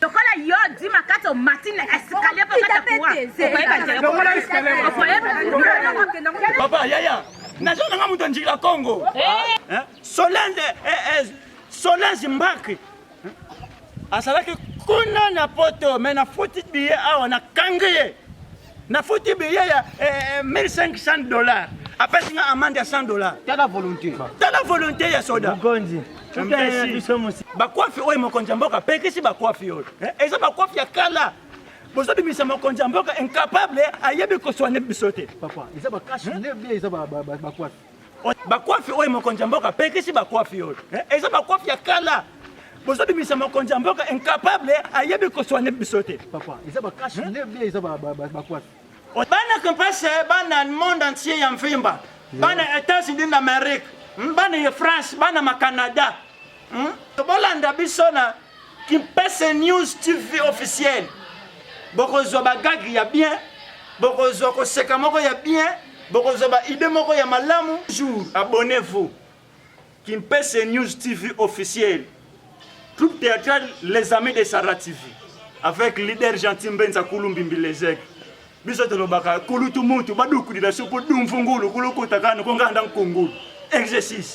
lokola yo di makasi omati na escalier po kata kuwa okoyeba nzela lokola escalier okoyeba papa yaya nazo nanga moto njila kongo solange solange mbaki azalaki kuna na poto me nafuti biye awa nakangi ye Na foti billet ya 1500 eh, eh, dollars. Apesi nga amende ya 100 dollars. Tala volonté. Tala volonté ya soda. Mokonzi. bakwafi oyo mokonzi ya mboka apekisi bakwafi oyo eh, eza bakwafi ya kala bozobimisa mokonzi ya mboka incapable ayebi koswane biso te bakwafi oyo mokonzi ya mboka apekisi bakwafi oyo eh, eza bakwafi ya kala bozobimisa mokonzi ya mboka incapable ayebi koswane biso te papa eza bakashi nde bie eza bakwafi bana kampase bana monde entier ya mvimba bana états-unis d'amérique hmm, bana ya france bana ma canada hmm? bolanda biso na Kimpese News TV officiel bokozwa bagagi ya bien bokozwa koseka moko ya bien bokozwa baide moko ya malamu jour abonnez-vous Kimpese News TV officiel troupe théâtrale les amis de Sarah TV avec leader gentil mbenza kulumbimbi lezek biso tolobaka kulutu mutu badukudila sopo dumvungulu kulukutaka nokonganda nkungulu exercice